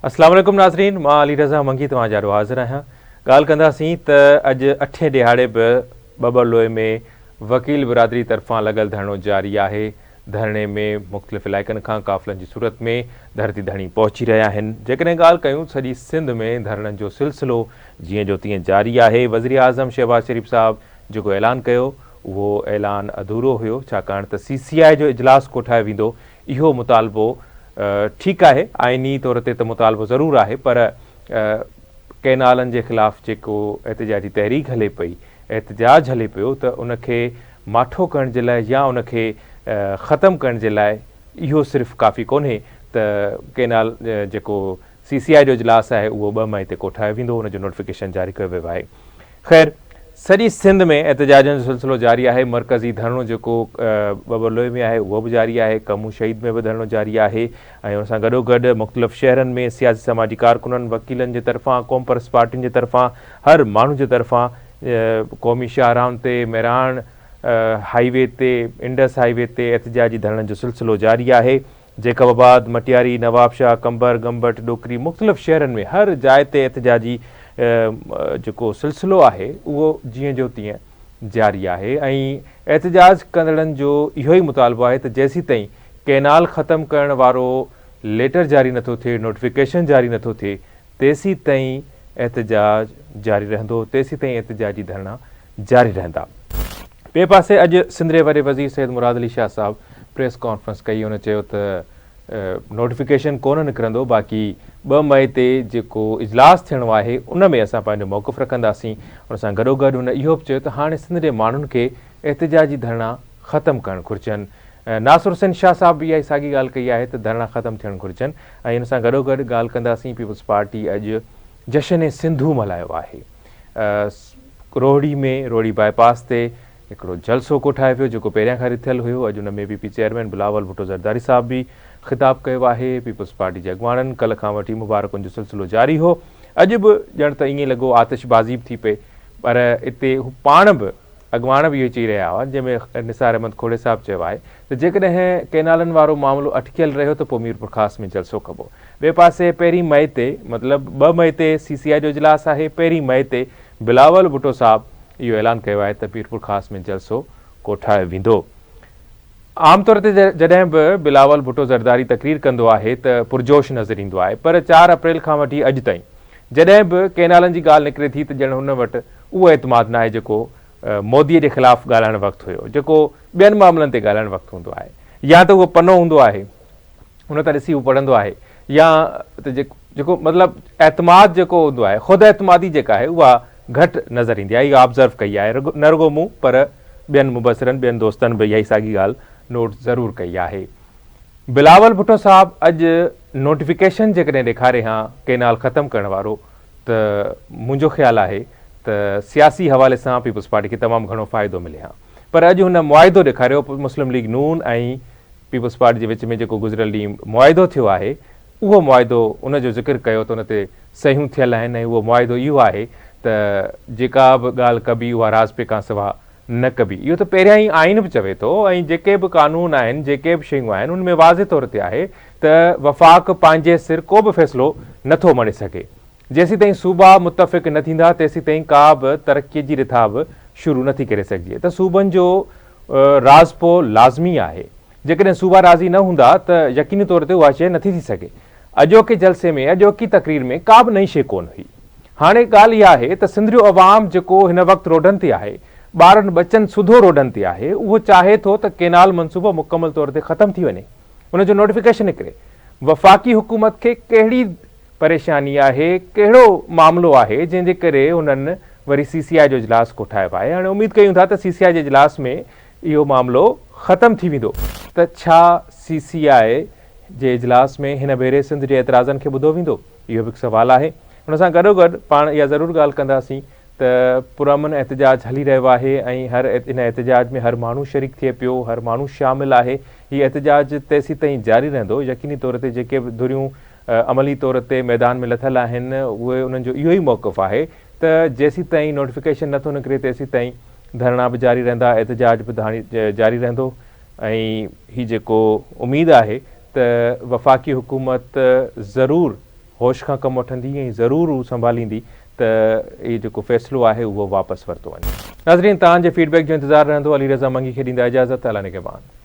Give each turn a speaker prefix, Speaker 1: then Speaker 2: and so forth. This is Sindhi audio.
Speaker 1: اسلام عليڪم ناظرين مان علي رضا منگي توهان جي آڏو حاضر آهيان ڳالهه ڪنداسين ته اڄ اٺين ڏيهاڙي به ٻٻر لوئي ۾ وڪيل برادري طرفان لڳل ڌرڻو جاري آهي ڌرڻي ۾ مختلف علائقن کان قافلن جي صورت ۾ ڌرتي ڌڻي پهچي رهيا آهن جيڪڏهن ڳالهه ڪيون سڄي سنڌ ۾ ڌرڻن جو سلسلو جيئن جو تيئن جاري آهي وزيراعظم شهباز شريف صاحب جيڪو اعلان ڪيو اهو اعلان اڌورو هيو ڇاڪاڻ ته سي سي آء جو اجلاس ڪوٺايو ويندو اهو مطالبو ٺيڪ آهي، آئيني طور تي ته مطالبو ضرور آهي پر ڪئنالن جي خلاف جيڪو احتجاجي تحريڪ هلي پئي، احتجاج هلي پيو ته ان کي ماٺو ڪرڻ جي لاء يا ان کي ختم ڪرڻ جي لاء اهو صرف ڪافي ڪونهي ته ڪئنال جيڪو سي سي آء جو اجلاس آهي اهو ٻه مئي تي ڪوٺايو ويندو، ان جو نوٽيفڪيشن جاري ڪيو ويو آهي. خير سڄي سنڌ ۾ احتجاجن جو سلسلو جاري آهي، مرڪزي ڌرڻو جيڪو ٻٻر لوئي ۾ آهي اهو به جاري آهي، ڪمون شهيد ۾ به ڌرڻو جاري آهي ۽ ان سان گڏوگڏ مختلف شهرن ۾ سياسي سماجي ڪارڪنن، وڪيلن جي طرفان، قومپرست پارٽين جي طرفان، هر ماڻهو جي طرفان قومي شاهراهن تي، مهراڻ هاء وي تي، انڊس هاء وي تي احتجاجي ڌرڻن جو سلسلو جاري آهي. جيڪب آباد، مٽياري، نوابشاهه، قمبر، ڳمبٽ، ڏوڪري مختلف شهرن ۾ هر جاء تي احتجاجي جيڪو سلسلو آهي اهو جيئن جو تيئن جاري آهي ۽ احتجاج ڪندڙن جو اهوئي مطالبو آهي ته جيسيتائين ڪئنال ختم ڪرڻ وارو ليٽر جاري نٿو ٿئي، نوٽيفڪيشن جاري نٿو ٿئي تيسيتائين احتجاج جاري رهندو، تيسيتائين احتجاجي ڌرڻا جاري رهندا. ٻئي پاسي اڄ سنڌ جي وڏي وزير سيد مراد علي شاهه صاحب پريس ڪانفرنس ڪئي هن چيو ته نوٽيفڪيشن ڪونه نڪرندو باقي ٻه مئي تي جيڪو اجلاس ٿيڻو آهي ان ۾ اسان پنهنجو موقف رکنداسين ان سان گڏوگڏ هن اهو به چيو ته هاڻي سنڌ جي ماڻهن کي احتجاجي ڌرڻا ختم ڪرڻ گهرجن ناصر حسين شاهه صاحب به اها ئي ساڳي ڳالهه ڪئي آهي ته ڌرڻا ختم ٿيڻ گهرجن ۽ ان سان گڏوگڏ ڳالهه ڪنداسين پيپلز پارٽي اڄ جشن سنڌو ملهايو آهي. روهڙي ۾ روهڙي باء پاس تي هڪڙو جلسو ڪوٺايو ويو جيڪو پهريان کان رٿيل هيو، اڄ ان ۾ P P chairman Bilawal Bhutto Zardari صاحب به خطاب ڪيو آهي، پيپلز پارٽي جي اڳواڻن ڪلهه کان وٺي مبارڪن جو سلسلو جاري هو، اڄ به ڄڻ ته ائين لڳو آتش بازي به ٿي پئي پر اتي هو پاڻ به اڳواڻ به اهوئي چئي رهيا هئا، جنهن ۾ نثار احمد کوڙي صاحب چيو آهي ته جيڪڏهن ڪئنالن وارو معاملو اٽڪيل رهيو ته پوء ميرپورخاص ۾ جلسو ڪبو. ٻئي پاسي پهرين مئي تي مطلب ٻه مئي تي سي سي آء جو اجلاس آهي، پهرين مئي تي بلاول ڀٽو صاحب اهو اعلان ڪيو آهي ته ميرپورخاص ۾ جلسو ڪوٺايو ويندو. عام طور تي جڏهن به بلاول ڀٽو زرداري تقرير ڪندو آهي ته پرجوش نظر ايندو آهي پر چار اپريل کان وٺي اڄ تائين جڏهن به ڪئنالن جي ڳالهه نڪري ٿي ته ڄڻ هن وٽ اهو اعتماد ناهي جيڪو مودي جي خلاف ڳالهائڻ وقت هيو جيڪو ٻين معاملن تي ڳالهائڻ وقت هوندو آهي يا ته اهو پنو هوندو آهي ان تان ڏسي هو پڙهندو آهي يا ته جيڪو مطلب اعتماد جيڪو هوندو آهي خود اعتمادي جيڪا آهي اها گهٽ نظر ايندي آهي اها آبزرو ڪئي آهي نه رڳو مون پر ٻين مبصرن ٻين دوستن به اها ئي ساڳي ڳالهه نوٽ ضرور ڪئي آهي بلاول ڀٽو صاحب اڄ نوٽيفڪيشن جيڪڏهن ڏيکاري ها ڪينال ختم ڪرڻ وارو ته منهنجو خيال آهي ته سياسي حوالي سان پيپلز پارٽي کي تمام گهڻو فائدو ملي ها پر اڄ هن معاهدو ڏيکاريو، مسلم ليگ نون ۽ پيپلز پارٽي جي وچ ۾ جيڪو گذريل ڏينهن معاهدو ٿيو آهي اهو معاهدو ان جو ذڪر ڪيو ته ان تي صحيحون ٿيل آهن ۽ اهو معاهدو اهو آهي ته جيڪا به ڳالهه ڪبي اها راضپي کان سوا نه ڪبي اهو ته پهريان ئي آئين به چوي ٿو ۽ جيڪي به قانون آهن جيڪي به شيون آهن ان ۾ واضح طور تي آهي ته وفاق پنهنجي سر ڪو به فيصلو نٿو مڙي سگهي. جيسيتائين صوبا متفق نه ٿيندا تيسيتائين ڪا به ترقي جي رٿا به شروع نه ٿي ڪري سگهجي ته صوبن جو راضپو لازمي آهي جيڪڏهن صوبا راضي نه هوندا ته يقيني طور تي اها شيء نه ٿي ٿي سگهي اڄوڪي جلسي ۾ اڄوڪي تقرير ۾ ڪا به نئين شيء ڪونه هئي هاڻي ڳالهه اها آهي ته سنڌريو عوام جيڪو هن وقت روڊن تي آهي ٻارن ٻچن سوڌو روڊن تي آهي اهو چاهي ٿو ته ڪينال منصوبو مڪمل طور تي ختم ٿي وڃي ان جو نوٽيفڪيشن نڪري وفاقي حڪومت کي ڪهڙي پريشاني آهي، ڪهڙو معاملو آهي جنهن جي ڪري هنن وري سي سي آء جو اجلاس ڪوٺايو آهي، هاڻي اميد ڪيون ٿا ته سي سي آء جي اجلاس ۾ اهو معاملو ختم ٿي ويندو ته ڇا سي سي آء جي اجلاس ۾ هن ڀيري سنڌ جي اعتراضن کي ٻڌو ويندو اهو به هڪ سوال آهي، ان سان گڏوگڏ پاڻ اها ضرور ڳالهه ڪنداسين ته پرامن احتجاج هلي رهيو آهي ۽ هر ان احتجاج ۾ هر ماڻهو شريڪ ٿئي پيو، هر ماڻهو شامل آهي، هي احتجاج تيسيتائين جاري رهندو، يقيني طور تي جيڪي به ڌريون عملي طور تي ميدان ۾ لٿل آهن اهي انهن جو اهو ئي موقف آهي ته جيسيتائين نوٽيفڪيشن نٿو نڪري تيسيتائين ڌرڻا به جاري رهندا احتجاج به جاري رهندو ۽ هي جيڪو اميد آهي ته وفاقي حڪومت ضرور هوش کان ڪم وٺندي ۽ ضرور هو سنڀاليندي ته اهي جيڪو فيصلو آهي اهو واپس ورتو وڃي. ناظرين تهان جي فيڊ بيڪ جو انتظار رهندو علي رضا منگي کي ڏيندا اجازت الله نگهبان.